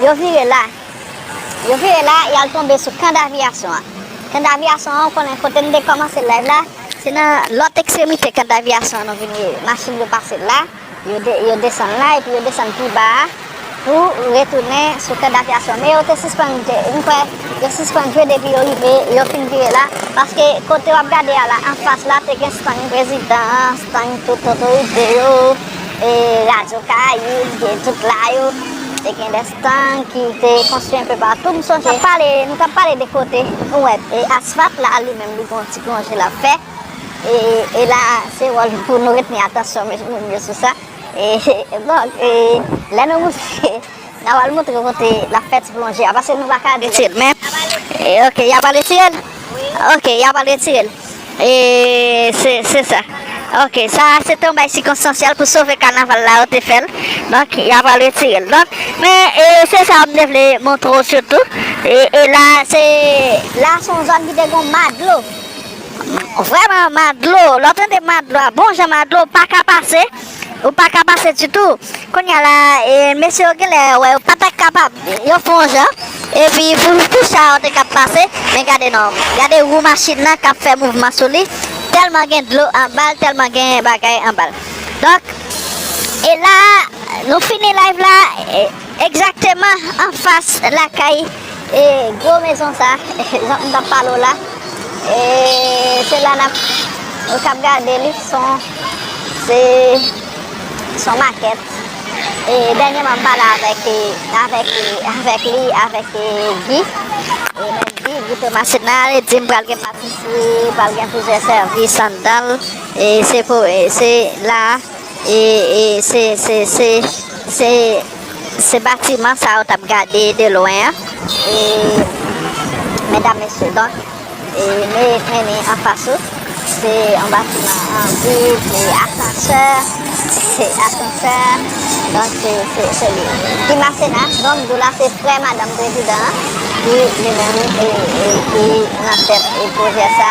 Yo vire la. Yo vire la, y al tonbe sou kan daviyasyon an. Kan daviyasyon an, ou konnen kote n te kòmanse layv la, se nan lòt ekstremite kan daviyasyon an nou vin ye. Machin yo pase la, yo desann la epi yo desann pi ba a pou retounen sou kan daviyasyon an. Men yo te sispann, m kwè, yo sispann jwe depi yo rive, yo fin vire la. Paske kote w ap gade a la, anfas la, te gen stang prezidan an, stang tout otorite yo. E radyo Karayib gen tout la yo, te gen de stand ki te konstwi anpe patou. M sonje nou t ap pale de kote nou wè asfalt la li menm li gen yon ti plonje l ap fè. E la se wòl nou pou nou retni atansyon moun yo sou sa. Donk, lè nou moute. N'a pral montre kote la fèt plonje a paske nou paka deteye'l men ok y'a pral retire'l ok y'a pral retire'l e se se sa ok sa a se te yon bay sikonstansyèl pou sove kanaval la yo te fè'l donk y'a pral retire'l donk men e se sa a m' te vle montre w' sitou e la a se la a se yon zòn ki te gon ma dlo vrèman ma dlo lè w' tande ma dlo a bon jan ma dlo w' paka pase. Ou pa ka pase ditou. Kounya la mesye yo genlè wè yo pa ta kapab. Yo fè yon jan epi pou cha yo te ka pase men gade non. Gade wou machin nan k ap fè mouvman sou li tèlman gen dlo anba l tèlman gen bagay anba l. Donk e la nou fini live la. Egzakteman anfas lakay gwo mezon sa jan m tap pale w la e se la nap nou kap gade li son se son makèt e dènyeman m pale avèk avèk avèk li avèk Guy e mwen di Guy Thomas se nan li di m pral gen patisri pral gen plizyè sèvis anndan l e se pou se la E se se se se se batiman sa ou tap gade de lwen an. E medam mesye donk e me meni an fas ou se yon batiman an vid e asansè se asansè donk se se se li ki masena donk m di w la se frè madanm prezidan an ki li menm e e ki nan tèt e pwojè sa.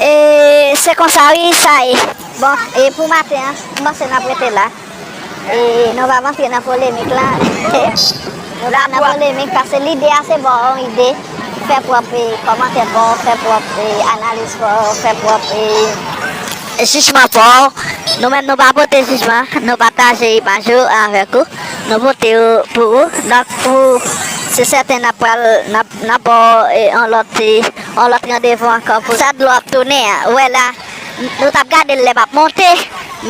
E se konsa wi sa ye. Bon, e pou maten an, m panse n ap rete la. E nou va p antre nan polemik la. Nou pa nan polemik paske lide a se ba w yon ide, fè pwòp kòmantè pa w, fè pwòp analiz pa w, fè pwòp jijman pa w. Nou menm nou pa pote jijman, nou pataje imaj yo avèk ou, nou pote yo pou ou. Donk, se sèten n ap ba w yon lòt. On lòt randevou ankò pou sa dlo ap tounen an. Ou wè la, nou t ap gade l lè m ap monte,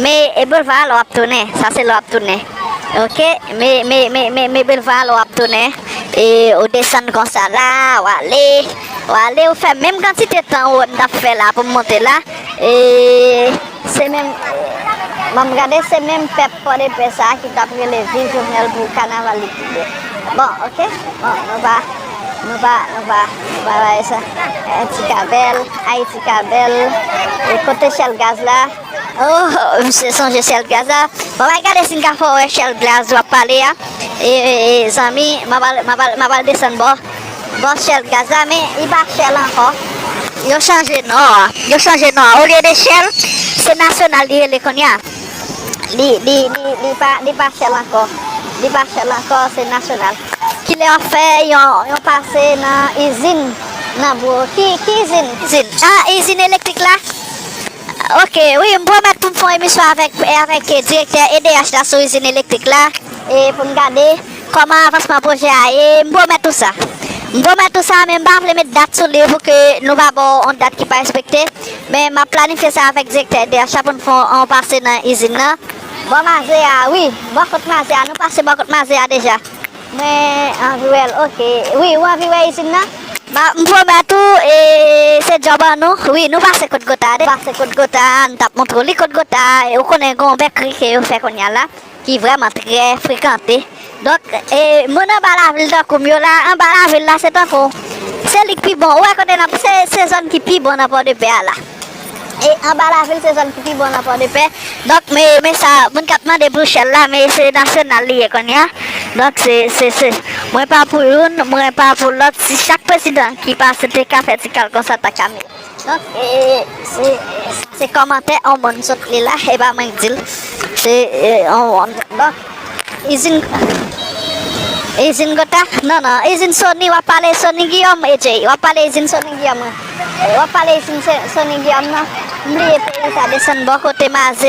me e boulva a lò ap tounen. Sa se lò ap tounen. Ok, me, me, me, me, me boulva a lò ap tounen. E ou desann konsa la, ou ale, ou ale, ou fè menm kantite tan ou wè m t ap fè la pou m monte la. E. Se menm Bon m gade se menm pèp pòdepè sa ki tap rele viv jovenel pou kanaval li ki bon Bon ok bon nou pa nou pa nou pa nou pa bay sa Ayiti ka bèl Ayiti ka bèl E kote shell gaz la Oh m sonje shell gaz la Bon bay gade si n ka fè w wè shell gaz wap pale a E zanmi m ap al m ap al desann bò Bon shell gaz la men li pa shell ankò. Yo chanje non an. Yo chanje non an. Olye de Shell, se Nasyonal li rele kounye a. Li, li, li, li pa, li pa Shell ankò. Li pa Shell ankò, se Nasyonal. Kilè w ap fè yon, yon pase nan izin nan bro? Ki, ki izin? Izin? A, izin elektrik la? Ok, wi, m pwomèt pou m fè yon emisyon avèk, avèk direktè edh la sou izin elektrik la. E pou n gade. Kòman avansman pwojè a ye? M pwomèt ou sa. M pwomèt ou sa, men m pa vle met dat sou li pou ke nou pa ba w on dat ki pa respekte. Men m ap planifye sa avèk direktè edh la pou n fè on pase nan izin nan. Bò Maze a, wi. Bò kot Maze a, nou pase bò kot Maze a deja. Mwen anvi wè l, ok. Wi, ou anvi wè izin nan? M pwomèt ou, e se djòb an nou. Wi, nou pase kot Gota a deja. Pase kot Gota a, nou t ap montre w li. Kot Gota a, ou konnen gen on bèkri ke yo fè kounye a la. ki vrèman trè frekante donk e moun anba lavil tankoum yo la anba lavil la se tankou se lik pi bon ou wè kote nan se se zòn ki pi bon nan pòdepè a la e anba lavil se zòn ki pi bon nan pòdepè donk me me sa moun kap mande pou chèl la me se nasyonal li ye konnya donk se se se mwen pa pou youn mwen pa pou lòt si chak prezidan ki pase te ka fè ti kal konsa ta ka mil. Donk se se kòmantè on moun sot li la e pa mwen k dil se on moun donk izin izin gota non non izin soni wap pale soni giyòm e jay wap pale izin soni giyòm wap pale izin soni giyòm non m bliye peyi sa desann bò kote maze.